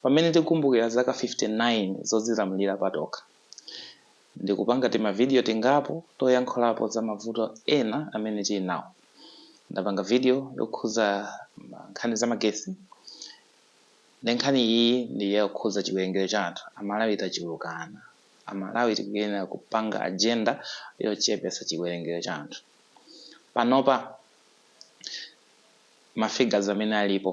Pamene tikukumbukira zaka 59 zodzilamulira patokha, ndikupanga timavidiyo tingapo toyankhulapo za mavuto ena amene tili nawo. Ndapanga vidiyo yokhudza nkhani za magetsi nde nkhani iyi ndi yokhudza chiwerengero cha anthu. Amalawi tachulukana. Amalawi tikuyenera kupanga ajenda yochepetsa chiwerengero cha anthu. Panopa ma figures amene alipo.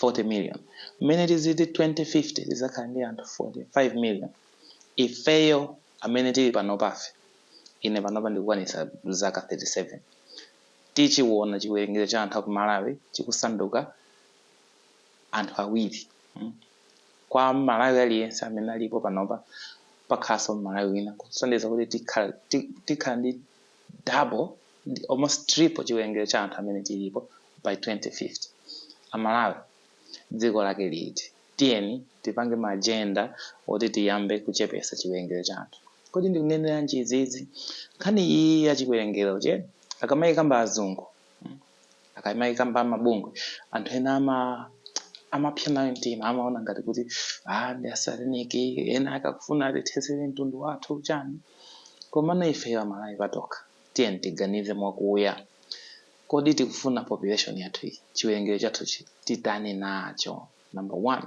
40 million mmene tiziti 2050 tizakhala ndi anthu 45 million ifeyo amene tili panopafe ine panopa ndikukwanitsa zaka 37 tichiwona chiwerengero cha anthu aku Malawi chikusanduka anthu awiri kwa mmalawi aliyense amene alipo panopa pakhalanso mmalawi wina kusonyeza kuti tikhala ndi double ndi almost triple chiwerengero cha anthu amene tilipo by 2050. Amalawi dziko lake liti? Tiyeni tipange ma agenda oti tiyambe kuchepesa chiwerengero cha anthu. Kodi ndikuneneranji izizi? Nkhani iyi ya chiwerengero che akamaikamba azungu, akamaikamba amabungwe, anthu ena ama amapsa nayo mtima amaona ngati kuti ah ndi asataniki ena ake akufuna atithetsere mtundu wathu chani komano ifeyo amalawi patokha Tiyeni tiganize mwakuya. Kodi tikufuna population yathu iyi, chiwerengero chathu titani nacho? Number one,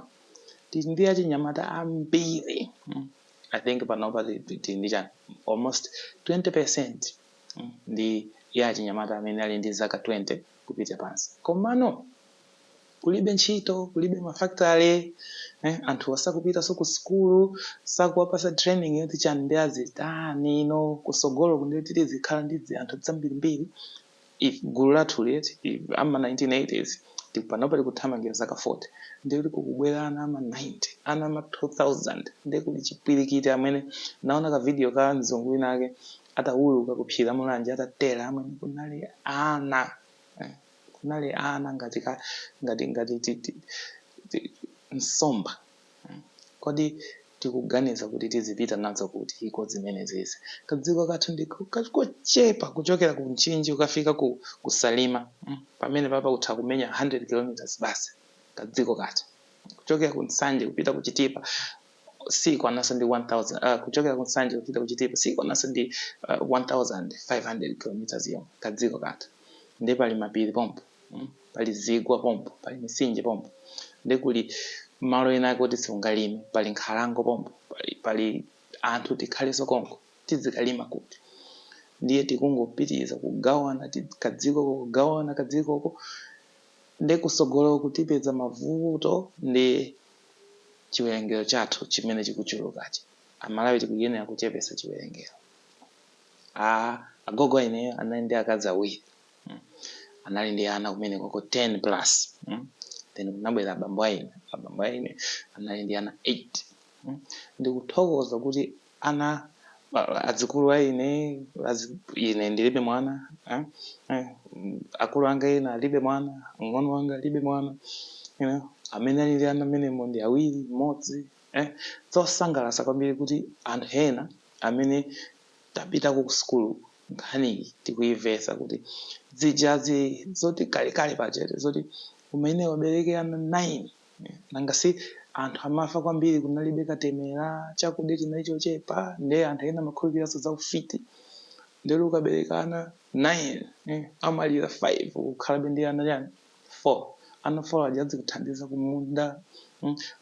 tili ndi achinyamata ambiri. mm, I think panopa ti- ti- tili ndi chani almost 20% mm, ndi ya achinyamata amene ali ndi zaka 20 kupita pansi. Komano kulibe ntchito, kulibe ma factory, eh, anthu sakupitanso ku sukulu, sakuwapasa training yoti chani nde azitani, you know, kusogoloku nde tizikhala ndi anthu ambirimbiri, if gulu lathu la late ama 1980s ndi panopa likuthamangira zaka 40 nde likubwera ana ama 90 ana ama 2000 nde kuli chipwirikiti amene anaona ka video ka nzungu winake atawuluka kuphiri la Mulanje atatera amene kunali ana eh. kunali ana ngati ka ngati ngati ti, ti, ti, nsomba mm. kodi tikuganiza kuti tizipita nazo kuti iko zimenezizi kadziko kathu ndi ko- ka- kochepa kuchokera ku Mchinji ukafika ku Salima mm. pamenepapa utha kumenya 100 kilometers basi kadziko kathu kuchokera ku Nsanje kupita ku Chitipa siikwananso ndi 1000 uh, kuchokera ku Nsanje kupita ku Chitipa siikwananso ndi uh, 1500 kilometers yomwe kadziko kathu nde pali mapiri pompo mm? pali zigwa pompo pali mitsinje pompo nde kuli malo ena ake oti siungalime pali nkhalango pompo pali, pali anthu tikhalenso konko tidzikalima kuti ndiye tikungopitiriza kugawana kadzikoko kugawana kadzikoko nde kusogoloku tipeza mavuto nde chiwerengero chathu chimene chikuchulukachi amalawi tikuyenera kuchepetsa chiwerengero a agogo aineyo anali ndi akazi awiri mm. anali ndi ana kumenekoko 10 plus mm. then kunabwera abambo aine abambo aine anali ndi ana 8 mm. ndikuthokoza kuti ana adzukulu a ine azi, ine ndilibe mwana eh? Eh, akulu anga ena alibe mwana mng'ono wanga alibe mwana you know? amene ali ndi ana amenemo ndi awiri mmodzi eh? zosangalatsa kwambiri kuti anthu ena amene tapitako ku sukulu nkhaniyi tikuimvetsa kuti zijazi zoti kalekale pachete zoti amenewa abereke ana 9 nanga si anthu amafa kwambiri kunalibe katemera chakudya chinali chochepa ndiye anthu ena amakhulupiriranso za ufiti ndiye kuti ukabereka ana 9 amwalira 5 ukhalabe ndi ana chani 4 ana 4 aja adzikuthandiza kumunda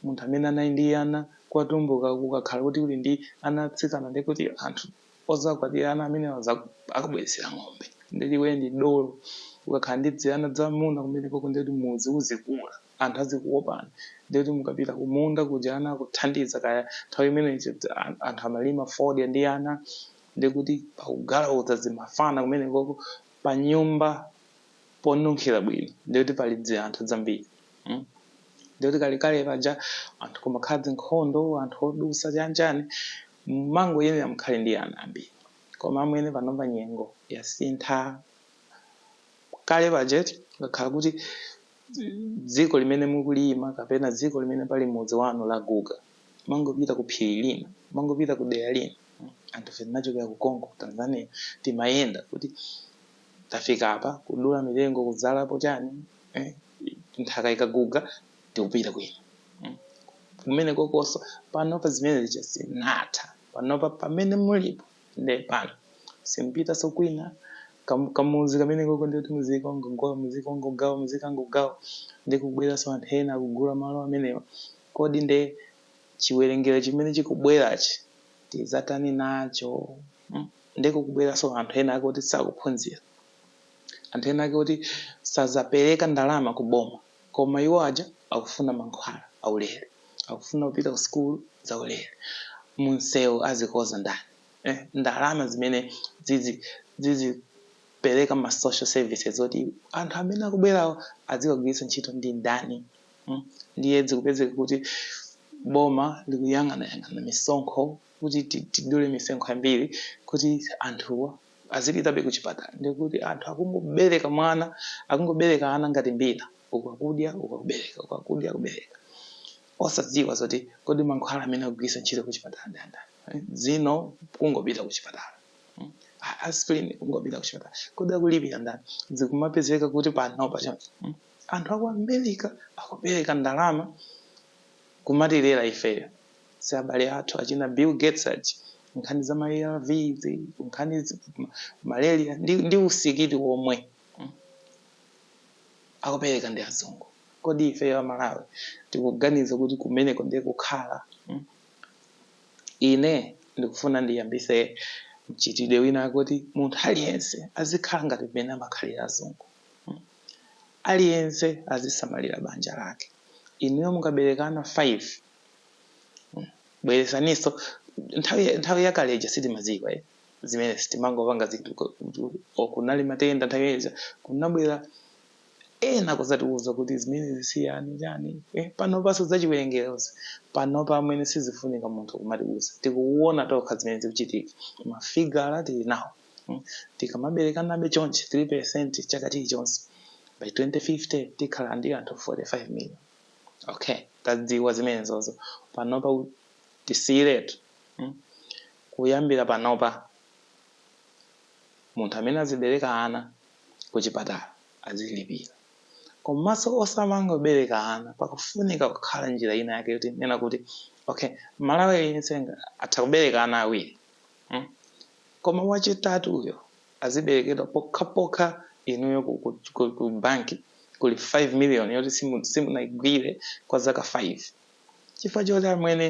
munthu amene anali ndi ana kwa tumbuka ukakhala kuti uli ndi ana atsikana ndiye kuti anthu ozakwatira ana amenewa akubweretsera ng'ombe ndeti iweyo ndi dolo ukakhala ndi dziana dzamuna kumenekoko ndeti mudzi uzikula anthu azikuopa ndiye kuti mukapita kumunda kuja ana akuthandiza kaya nthawi imene ija a- anthu amalima fodya ndi ana ndiye kuti pakugalauza zamafana kumenekoko pa nyumba ponunkhira bwino ndiye kuti pali dzianthu dzambiri mm? ndiye kuti kalekale paja anthu kumakhala dzinkhondo anthu odutsa chanichani mumangoyenera mukhale ndi ana ambiri koma amwene panopa nyengo yasintha kale pajeti mukakhala kuti dziko limene mukulima kapena dziko limene pali mudzi wanu laguga mumangopita ku phiri lina mumangopita ku dera lina anthu ife tinachokera ku congo tanzania timayenda kuti tafika apa kudula mitengo kudzalapo chani eh? nthaka ikaguga tikupita kwina mm. kumene kokonso panopa zimene zija zinatha panopa pamene mulipo nde pano simpitanso kwina kam- kamudzi kamene koko ndi kuti muzikongogola muzikongogawa muzikangogawa ndi kubweranso anthu ena akugula malo amenewo kodi nde chiwerengero chimene chikubwerachi tidzatani nacho Mm. nde kukubweranso anthu ena ake oti sakuphunzira anthu ena ake oti sadzapereka ndalama ku boma koma iwo aja akufuna mankhwala aulere, akufuna kupita ku sukulu zaulere, misewu azikonza ndani eh? ndalama zimene zizi zizipereka ma social services oti anthu amene akubwerawo azikagwiritsa ntchito ndi ndani mm? ndiye zikupezeka kuti boma likuyang'anayang'ana misonkho kuti ti- tidule misonkho yambiri kuti anthuwa azipitabe kuchipatala ndikuti anthu akungobereka mwana akungobereka ana ngati mbira uku akudya uku akubereka uku akudya akubereka osadziwa zoti kodi mankhwala amene akugwiritsa ntchito kuchipatala ndi andani Eh, dzino kungopita kuchipatala Mm. A- aspirin kungopita kuchipatala kodi akulipira ndani zikumapezeka kuti panopa cha Mm. anthu aku america akubereka ndalama kumatilera ifeyo si abale athu achina Bill Gates aja nkhani za ma arv zi, nkhani zi- ma- malaria ndi, ndi usikiti womwe mm, akupereka ndi azungu kodi ifeyo amalawi tikuganiza kuti kumeneko ndiye kukhala mm? ine ndikufuna ndiyambise mchitidwe wina akuti munthu aliyense azikhala ngati mmene amakhalira azungu Mm. aliyense azisamalira banja lake inuyo mukabereka ana 5 Mm. bwerezaninso nthawi ya- nthawi yakale ija sitimadziwa eh, zimene sitimangopanga zinthu ko- ku- o- kunali matenda nthawi ija kunabwera ena kuzatiuza kuti zimene zisiyani chani eh, panopanso zachiwerengerozi panopa amwene sizifunika munthu kumatiuza tikuona tokha zimene zikuchitika mafigala tili nawo Mm. tikamaberekanabe chonchi 3 chaka chilichonse by 2050 tikhala ndi anthu 45 million okay tadziwa zimenezozo panopa u- tisiyiretu mm? kuyambira panopa munthu amene azibereka ana kuchipatala azilipira komanso osamangobereka ana pakufunika kukhala njira ina yake yotinena kuti okay mmalawi yense atha kubereka ana awiri mm? koma wachitatu uyo aziberekedwa pokhapokha inuyo ku ku ku ku bank kuli 5 million yoti simu simunaigwire kwa zaka 5 chifukwa choti amwene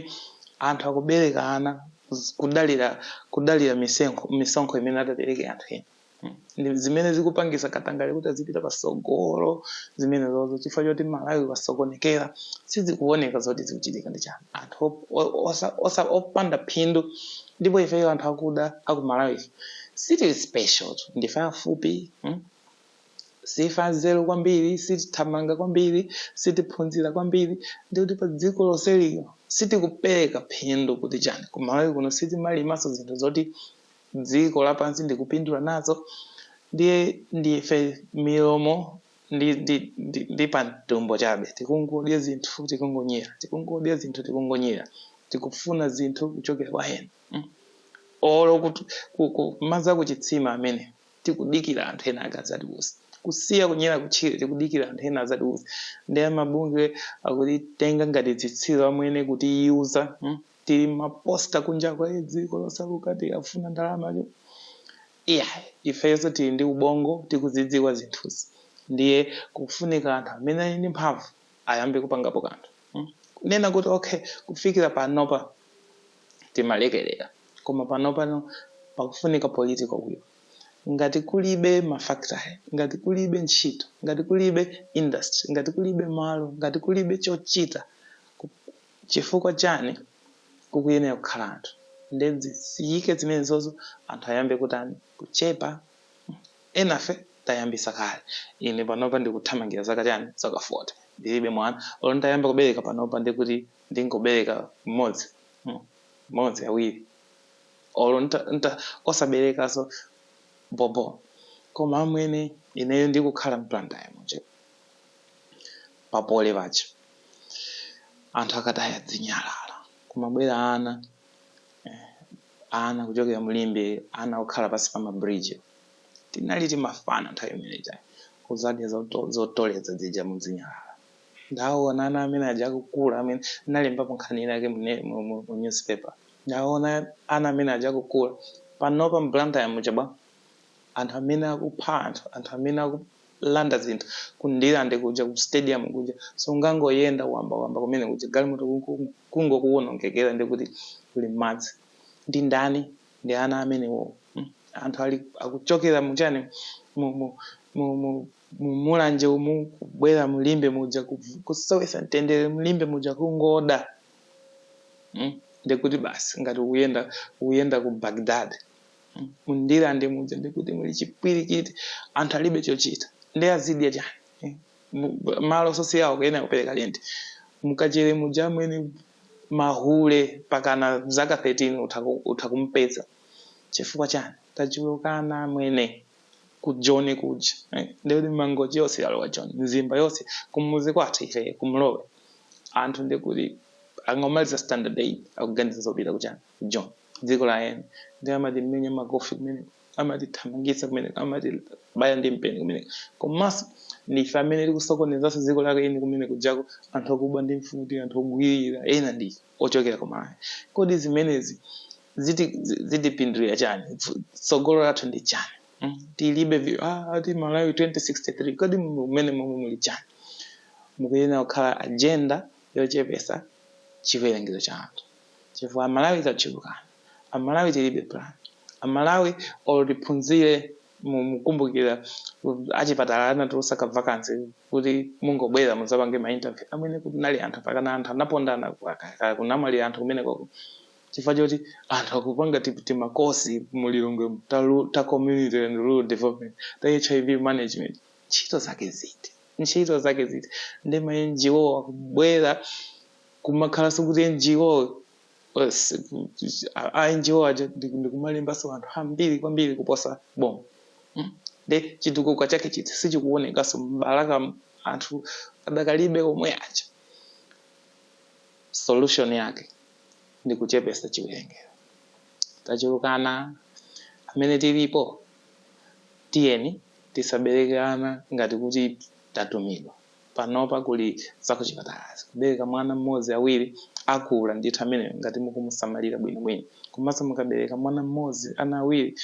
anthu akubereka ana z kudalira kudalira misenkho misonkho imene atapereke anthu ena mm, ndi zimene zikupangisa katangale kuti azipita pasogolo zimenezozo chifukwa choti malawi wasokonekera sizikuoneka zoti zikuchitika ndi chani anthu op- o- osa, opanda phindu ndipo ifeyo anthu akuda aku malawife sitili special tu ndife afupi mm? siife anzeru kwambiri sitithamanga kwambiri sitiphunzira kwambiri ndikuti pa dziko lonse lino sitikupereka phindu kuti chani ku malawi kuno sitimalimaso zinthu zoti dziko lapansi likupindula nazo ndiye ndife milomo ndi, ndi, ndi, ndi pamtumbo chabe tikungodya zinthu tikungonyera tikungodya zinthu tikungonyera tikufuna zinthu kuchokera kwa ena mm? olo kuti ku- ku- madzi akuchitsime amene tikudikira anthu ena akadzatiuza kusiya kunyera kutchire tikudikira anthu ena adzatiuza ndi amabungwe akutitenga ngati zitsiru amwene kutiuza mm? tili maposta kunja kwa dziko losauka tikafuna ndalama cho- Iyayi, ifeyonso tili ndi ubongo tikuzidziwa zinthuzi ndiye kukufunika anthu amene ali ndi mphamvu ayambe kupangapo kanthu mm kunena kuti ok kufikira panopa timalekelera koma panopano pakufunika political will ngati kulibe ma factory ngati kulibe ntchito ngati kulibe industry ngati kulibe malo ngati kulibe chochita Chifukwa chani kukuyenera kukhala anthu nde zisiyike zimenezozo anthu ayambe kutani kuchepa enafe tayambisa kale ine panopa ndikuthamangira zaka chani zaka 40 ndilibe mwana olo ntayamba kubeleka panopa ndekuti ndingobeleka mmodzi mmodzi awiri olo nta osabelekaso bhobho koma amwene ineyo ndikukhala mBlantyre muja papole paja anthu akataya dzinyalala kumabwera ana eh, ana kuchokera mulimbe ana okhala pasi pa mabridge tinali timafana nthawi imene ija kuzadya zoto- zotoleza zija mudzinyalala ndaona ana amene aja akukula amene nalembapo nkhani ina yake mu ne- mu- mu- mu newspaper ndaona ana amene aja akukula panopa mblantyre muja bwa anthu amene akupha anthu, anthu amene akulanda zinthu ku Ndirande kuja ku stadium kuja, sungangoyenda wamba wamba kumene kuja galimoto kungokuwonongekera ndiye kuti uli m'madzi. Ndi ndani? Ndi ana amenewo. Hmm? Anthu ali akuchokera muchani mu, mu, mu, mu, mu mulanje umu kubwera mlimbe muja kuv- kusowesa mtendere mlimbe muja kungoda mm? ndikuti basi ngati ukuyenda ukuyenda ku baghdad mm, mundirande muja ndikuti muli chipwirikiti anthu alibe chochita ndi azidya chani eh, mu- malo sosiyawo kuyenera kupereka lendi mukachere muja amwene mahule mpakana zaka 13 utha ku- utha kumpeza chifukwa chani tachulukana amwene ku joni kuja eh, ndikuti mangochi yonse yalowa joni mzimba yonse kumuzi kwathu ife kumlowe anthu ndikuti angomaliza standard 8 akuganiza zopita kuchani Joni, dziko la eni, ndiye amatimenya makofi kumeneko, amatithamangitsa kumeneko, amatibaya ndi mpeni kumeneko. Komanso ndi ife amene tikusokonezanso dziko la eni ake kumene kujako, anthu akuba ndi mfuti, anthu ogwiririra ena ndi ochokera ku Malawi. Kodi zimenezi ziti zi- zitipindulira chani? F- Tsogolo lathu ndi chani? Mm? Tilibe vi- ah, ati Malawi 2063 kodi mu- mmene momwe muli chani? Mukuyenera kukhala agenda yochepesa chiwerengero cha anthu. chifukwa amalawi tachulukana amalawi tilibe plan amalawi olo tiphunzire mukumbukira achipatala anatulutsa ka vacancy kuti mungobwera mudzapange ma interview amene kunali anthu mpakana anthu anapondana kunamwalira anthu kumene koko chifukwa choti anthu akupanga timakosi mu lilongwe ta community and rural development ta hiv management ntchito zake ziti ntchito zake ziti ndi ma ngo akubwera kumakhala zokuti NGO os- a a NGO aja ndi- ndikumalembanso anthu ambiri kwambiri kuposa boma Mm. nde chitukuko chake chiti sichikuonekanso m'balaka m- anthu adakalibe omwe aja solution yake ndi kuchepesa chiwerengero tachulukana amene tilipo tiyeni tisaberekane ngati kuti tatumidwa panopa kuli zakuchipatalazi kubereka mwana mmodzi awiri akula ndithu amenewo ngati mukumusamalira bwinobwino komanso mukabereka mwana mmodzi ana awiri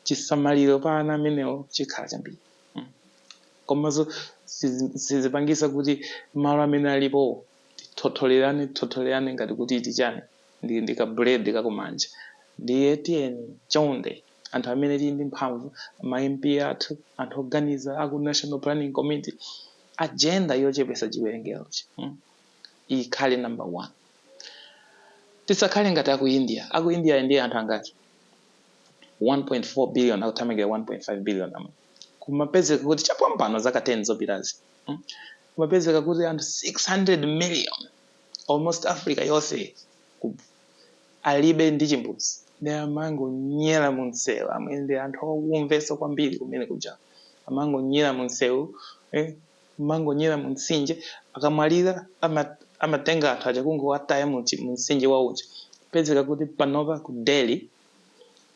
chisamaliro pa ana amenewo chikhala chambiri mm. komanso sizipangisa kuti malo amene alipowo tithotholerane tithotholerane ngati kuti ndi chani ndi, ndi kabuledi kakumanja ndiye tiyeni chonde anthu amene tili ndi mphamvu, ma MP athu, anthu oganiza aku National Planning Committee, agenda yochepesa chiwerengerochi ikhale number one. Tisakhale ngati aku India. Aku India ali ndi anthu angati? 1.4 billion akuthamangira 1.5 billion umm. Kumapezeka kuti chapompano zaka 10 zopitazi, kumapezeka kuti anthu 600 million, almost Africa yonse ku. alibe ndi chimbuzi nde amangonyera mumsewu amwene ndi anthu aumveso kwambiri kumene kuja amangonyera mumsewu eh, amangonyera mumtsinje akamwalira ama, amatenga anthu aja kungowataya munchi- mumtsinje wawo uja pezeka kuti panopa ku delhi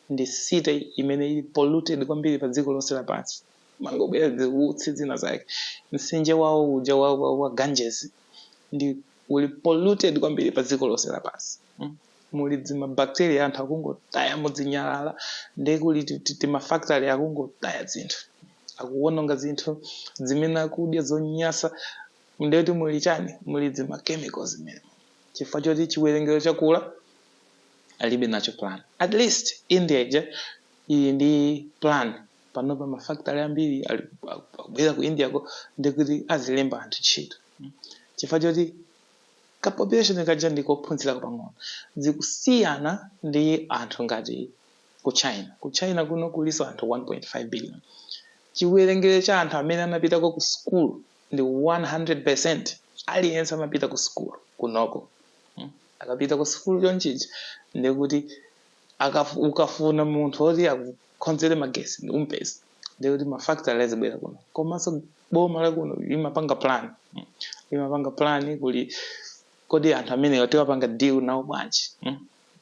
ndi city imene ili polluted kwambiri pa dziko lonse lapansi mangobwera ziutsi zina zake mtsinje wawo uja wa, wa, wa ganges ndi uli polluted kwambiri pa dziko lonse lapansi mm. muli dzimabacteria anthu akungotayamo dzinyalala nde kuli ti- ti- timafactory akungotaya zinthu akuwononga zinthu zimene akudya zonyasa ndekuti muli chani muli dzimachemical zimene chifukwa choti chiwerengero chakula alibe nacho plan at least india ija ili ndi plan panopa mafactory ambiri ali- akubwera ku indiako ndekuti azilemba anthu ntchito mm. chifukwa choti ka population kaja ndi kophunzira pang'ono zikusiyana ndi anthu ngati ku china ku china kuno kuliso anthu 1.5 billion chiwerengero cha anthu amene anapitako ku sukulu ndi 100% aliyense amapita ku sukulu kunoko mm. akapita ku sukulu chonchichi ndikuti ukafuna munthu oti akukonzere magesi ndi umpeza ndiye kuti mafactory azibwera kuno komanso boma la kuno limapanga plan mm. limapanga plan kuti kodi anthu amenewa tiwapanga deal nawo bwanji mm.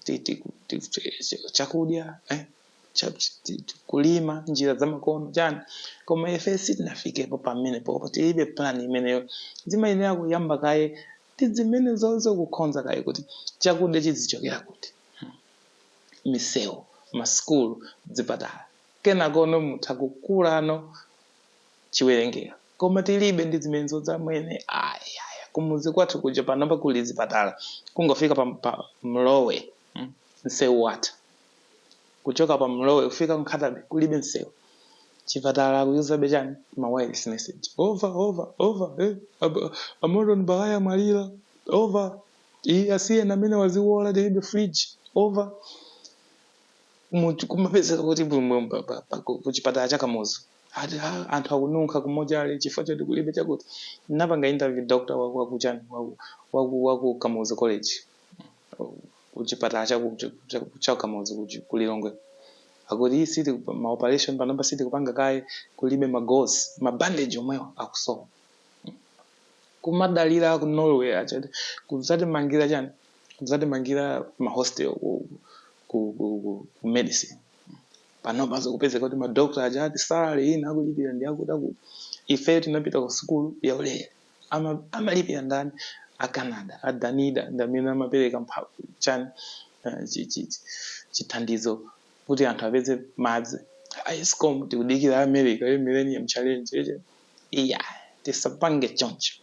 Ti- ti- ti- ti- chakudya eh? cha- ti- ti- kulima njira zamakono chani koma ife sitinafikepo pamenepopo tilibe plan imeneyo zimayenera kuyamba kaye ndi zimenezo kukonza kaye kuti chakudya chizichokera kuti misewu, masukulu, dzipatala. Kenakono mutha kukula no chiwerengero koma tilibe ndi zimenezo amwene ayi ayi kumuzi kwathu kuja panopa kuli zipatala kungofika pa pa mlowe mm, msewu watha kuchoka pa mlowe kufika Nkhata Bay kulibe msewu chipatala akuyuzabe chani ma wireless message over over over eh, ab- a Moron Mbaya amwalira over Ii asiyeni amene waziwola tilibe fridge over kumapezeka kuti kuchipatala cha Kamuzu ati ha anthu akununkha kumochale chifukwa choti kulibe chakuti napanga interview doctor waku wakuchani waku waku waku Kamuzu college kuchipatala cha cha Kamuzu ku Lilongwe akuti hii siti ma operation panopa siti kupanga kaye kulibe ma gauze ma bandage omwewa akusowa kumadalira aku norway aja kudzatimangira chani kudzatimangira mahostel ku, ku, ku, ku, ku medicine panopa zikupezeka kuti madokta aja ati salary ina akulipira ndi akuti akuti ifeyo tinapita ku sukulu yaulere Ama- amalipira ndani a canada a danida ndi amene amapereka mpha- chani eh, chi- chi- chi- chithandizo kuti anthu apeze madzi Escom tikudikira america yo millennium challenge eche iya tisapange choncho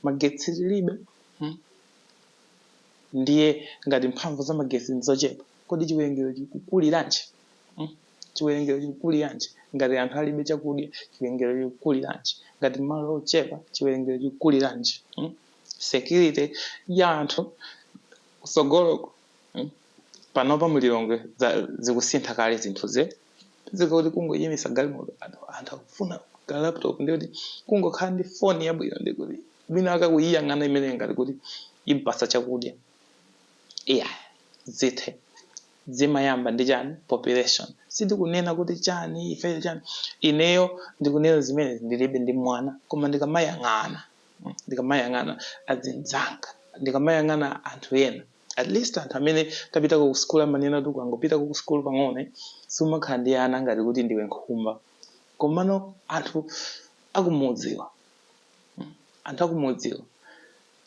magetsi tilibe hmm? ndiye ngati mphamvu za magetsi nzochepa kodi chiwerengero chikukuliranji hmm? chiwerengero chikukuliranji ngati anthu alibe chakudya chiwerengero chikukuliranji ngati malo ochepa chiwerengero chikukuliranji hmm? security ya anthu kusogoloko hmm? panopa mu Lilongwe zikusintha kale zinthu ze pezeka kuti kungoyimisa galimoto anthu anthu akufuna ka laptop ndi kuti kungokhala ndi foni yabwino ndi kuti mwina akuyiyang'ana imene ngati kuti impasa chakudya iya zinthu zimayamba ndi chani population sindikunena kuti chani ifeyo chani ineyo ndikunena zimenezi ndilibe ndi mwana koma ndikamayang'ana mm, ndikamayang'ana azinzanga ndikamayang'ana anthu ena at least anthu amene tapitako ku sukulu amanena kuti ukangopitako ku sukulu pang'ono sumakhala ndi ana ngati kuti ndiwe nkhumba komano anthu akumudziwa mm, anthu akumudziwa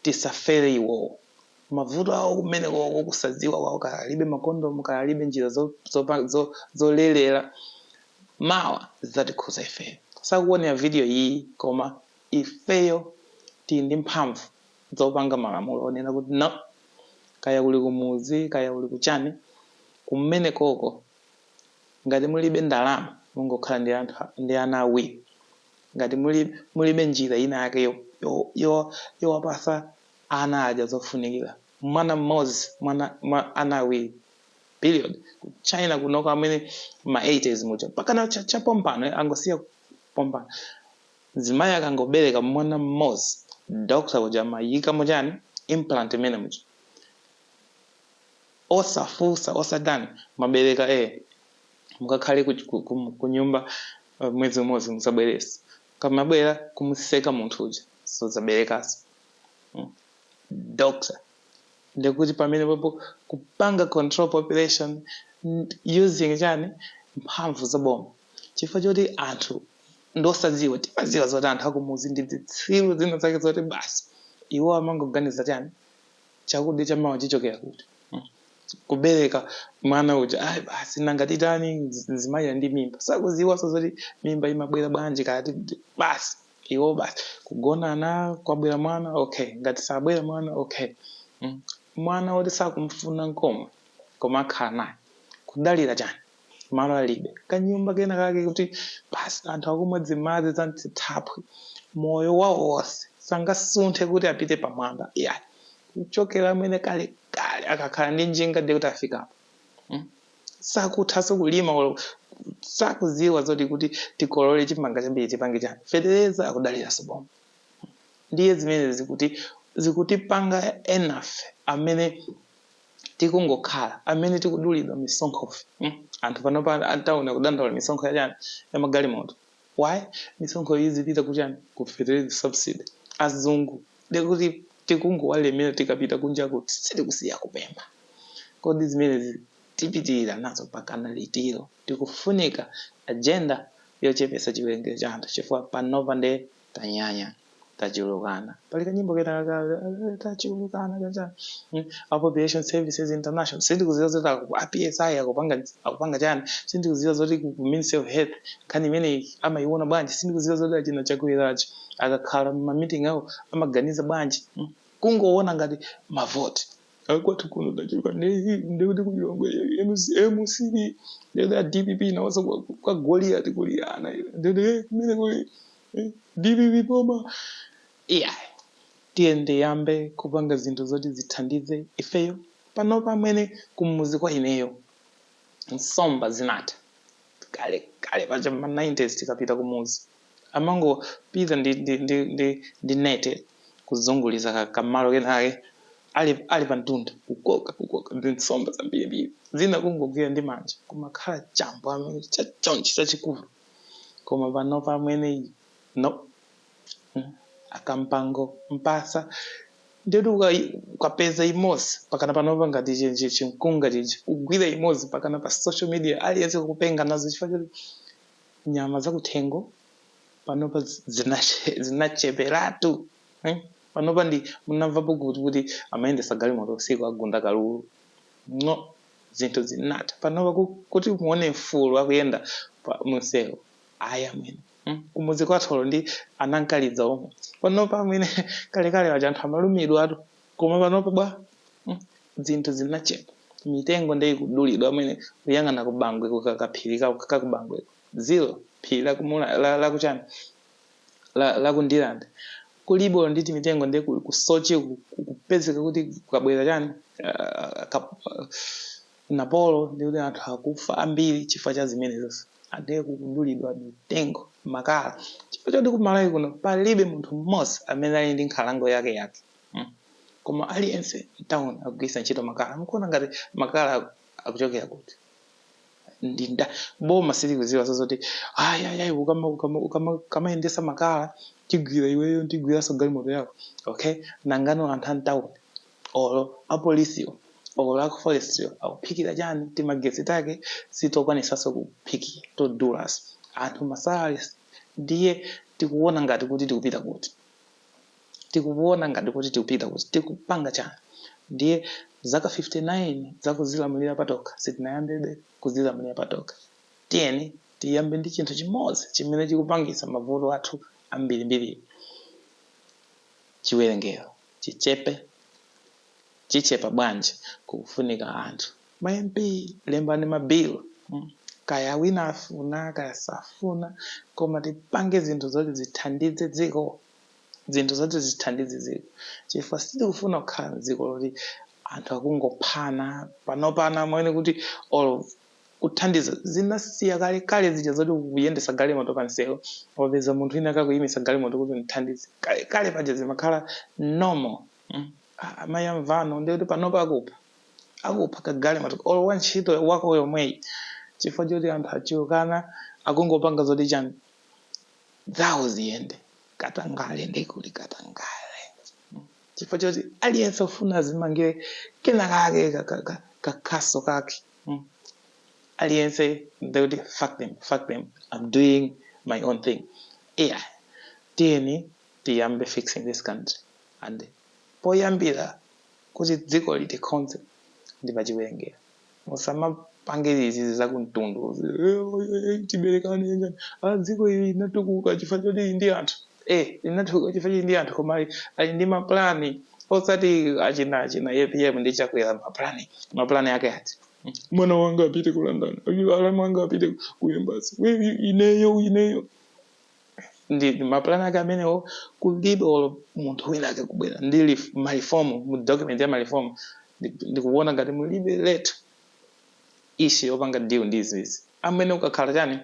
tisafere iwowo mavuto awo kumeneko kusadziwa kwawo kalibe makondomu kalibe njira zolelera mawa zizatikhuza ifeyo sakuonera video iyi koma ifeyo tili ndi mphamvu zopanga malamulo onena kuti no kaya uli kumudzi kaya uli kuchani kumene koko ngati mulibe ndalama mungokhala ndi anthu ndi ana awiri ngati muli mulibe njira ina yake yo yo yo yowapasa ana aja zofunikira mwana mmodzi mwana mwa ana awiri period ku china kunoko mmene ma 80s muja mpakana cha, cha pompano eh, angosiya pompano Mzimayi akangobeleka mwana mmodzi doctor uja amayikamo chani implant mmene muja osafunsa osatani mwabeleka ee mukakhale kunyumba mwezi umodzi muzabwerenso akamabwera kumutseka munthu uja sudzaberekanso doctor ndekuti pamenepopo kupanga control population using chani mphamvu za boma chifukwa choti anthu ndi osadziwa timadziwa zoti anthu akumudzi ndi zitsiru zina zake zoti basi iwo amangoganiza chani chakudya chamawa chichokera kuti mm. kubereka mwana uja ayi basi nanga titani mzi- mzimayi ali ndi mimba sakudziwanso zoti mimba imabwera bwanji kaya ti- ti- basi iwo basi kugonana kabwera mwana okay ngati sabwera mwana okay mm. mwana woti sakumfuna nkomwe koma akhala naye kudalira chani malo alibe kanyumba kena kake kuti basi anthu akumwa dzimadzi za mtithaphwi moyo wawo wonse sangasunthe kuti apite pamwamba iyayi kuchokera mmene kale kale akakhala ndi njinga ndiye kuti afikapo mm? sakuthanso kulima olo sakuziwa zoti kuti tikolole chimanga chambiri tipange chani fetereza akudaliranso boma ndiye zimene zikuti zikutipanga enafe amene tikungokhala amene tikudulidwa misonkhofe mm. anthu panopa atauni akudandaula misonkho yachani ya magalimoto why misonkho izipita kuchani ku fertilizer subsidy azungu ndekuti tikungowalemera tikapita kunja kuti sitikusiya kupempha kodi zimenezi tipitirira nazo mpakana litiro tikufunika agenda yochepetsa chiwerengero cha anthu chifukwa panopa nde tanyanya tachulukana pali kanyimbo kena kakale eh, tachulukana kacha Mm, a population services international sindikuziwa zoti aku- a psi akupanga akupanga chani sindikuziwa zoti ku ku ministry of health nkhani imeneyi amayiona bwanji sindikuziwa zoti achina chakwerachi akakhala mmameeting awo amaganiza bwanji Mm, kungoona ngati mavoti akwati kuno tachuluka ndekuti kunyongwe mcp ndekuti a dpp nawaza kwa goliati kuli ana ndekuti kumene kuli dpp boma iya tiyende yambe kupanga zinthu zoti zithandize ifeyo panopa amwene kumuzi kwa ineyo nsomba zinatha kale kale pacha ma 90s tikapita kumuzi amangopita ndi, ndi, ndi, ndi, ndi nete kuzunguliza ka- kamalo kenake ali, ali pa mtunda kukoka kukoka zinsomba zambirimbiri zina kungogwira ndi manja kumakhala chambo amwene cha chonchi chachikulu koma panopa amwene iyi no Mm. akampango mpasa ndetu uka- ukapeza imodzi pakana panopa ngati chi- chi- chinkunga chija ugwira imodzi pakana pa social media aliyense kupenga nazo chifukwa choti nyama zakuthengo panopa zinache- zinacheperatu eh? panopa ndi munamvapo kuti kuti amayendesa galimoto usiku agunda kalulu no zinthu zinatha panopa ku- kuti muone mfulu akuyenda pa- munsewu ayi amwene mm? kumudzi kwathuko ndi anankalidza omwe panopa amwene kalekale uja anthu amalumidwatu koma panopa bwa mm, zinthu zinachepa mitengo nde ikudulidwa amwene kuyang'ana ku bangwe kakaphiri kakubangwe zero phiri lakumula lakuchani lakundirande kulibe ndi timitengo nde kusoche kupezeka kuti kukabwera chani ah, ah, napolo ndi kuti anthu akufa ambiri chifukwa cha zimenezoso anthu eye kudulidwa mitengo makala chifukwa choti kumalawi kuno palibe munthu mmodzi amene ali ndi nkhalango yake yake Mm. koma aliyense mtown akugwiritsa ntchito makala mukuona ngati makala aku- akuchokera kuti nde boma silikuziwa zazoti ayayayi ukama- ukama- ukama- ukamayendesa makala tigwira iweyo tigwiranso galimoto yako okay nangano anthu amtauni olo apolisiwo olo akuforestiwo akuphikira chani timagesi take sitokwanisanso kuphikira todulaso anthu masalis ndiye tikuona ngati kuti tikupita kuti tikuona ngati kuti tikupita kuti tikupanga chani ndiye zaka 59 zakuzilamulira patokha sitinayambebe kuzilamulira patokha tiyeni tiyambe ndi chinthu chimodzi chimene chikupangisa mavuto athu ambirimbiri chiwerengero chichepe chichepa bwanji kukufunika anthu ma mp lembani ma bill mm, kaya wina afuna kaya safuna koma tipange zinthu zoti zithandize dziko zinthu zoti zithandize dziko chifukwa sitikufuna kukhala mdziko loti anthu akungophana panopana mwene kuti or kuthandizana zinasiya kale kale zija zoti kuyendesa galimoto pa msewu wapeza munthu wina akakuyimitsa galimoto kuti mthandize kale kale paja zimakhala normal mm. Ah, mayamvano ndekuti panopa akupha akupha kagalimoto or wantchito wako yomweyi chifukwa choti anthu achulukana akungopanga zoti chani zawo ziyende katangale ndikuli katangale chifukwa choti aliyense ufuna azimangire kena kake ka- ka- ka- kakaso kake mm. aliyense ndekuti fuck them fuck them i'm doing my own thing yeah tiyeni tiyambe fixing this country and poyambira kuti dziko litikhonze ndi pa chiwerengero musamapange izizi za kumtundu tiberekane aa dziko ili linatukuka chifukwa choti ili ndi anthu eh linatukuka chifukwa chili ndi anthu koma ali, ali ndi maplani osati achina achina apm ndi chakwera maplani maplani ake ati mwana wanga apite ku london uyu alamu wanga apite ku- ku embassy Uyu- ineyo ineyo ndi ndi mapulani ake amenewo kulibe olo munthu wina ake kubwera ndi ref- marifomu mu document ya marifomu ndi- ndikuona ngati mulibe the issue yopanga deal ndi izizi amene ukakhala chani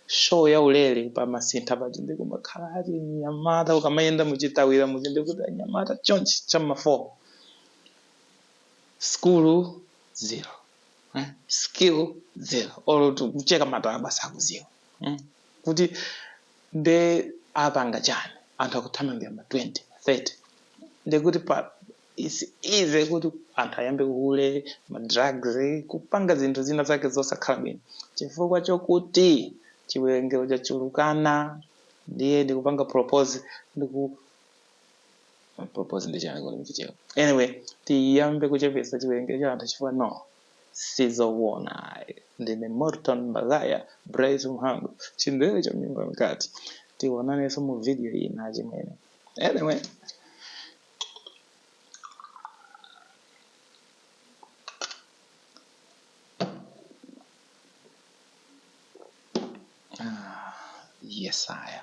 show ya ulere pamasintha paja ndi kumakhala achinyamata ukamayenda muchitawira muja ndekuti anyamata chonchi cha ma 4 skulu zero eh? skill zero or to kucheka matala ba sakuziwa mm? kuti nde apanga chani anthu akuthamangira ma 20 30 ndekuti pa its easy kuti anthu ayambe uhule ma drugs kupanga zinthu zina zake zosakhala bwino chifukwa chokuti chiwerengero chachulukana ndiye ndikupanga propose ndiku propose ndi chani kodi mchichewa anyway tiyambe kuchepetsa chiwerengero cha anthu chifukwa no sizowona ayi ndine morton baghaya bryce mhango chindere cha mnyumba mkati tionanenso mu video ina achimwene anyway Ah, yesaya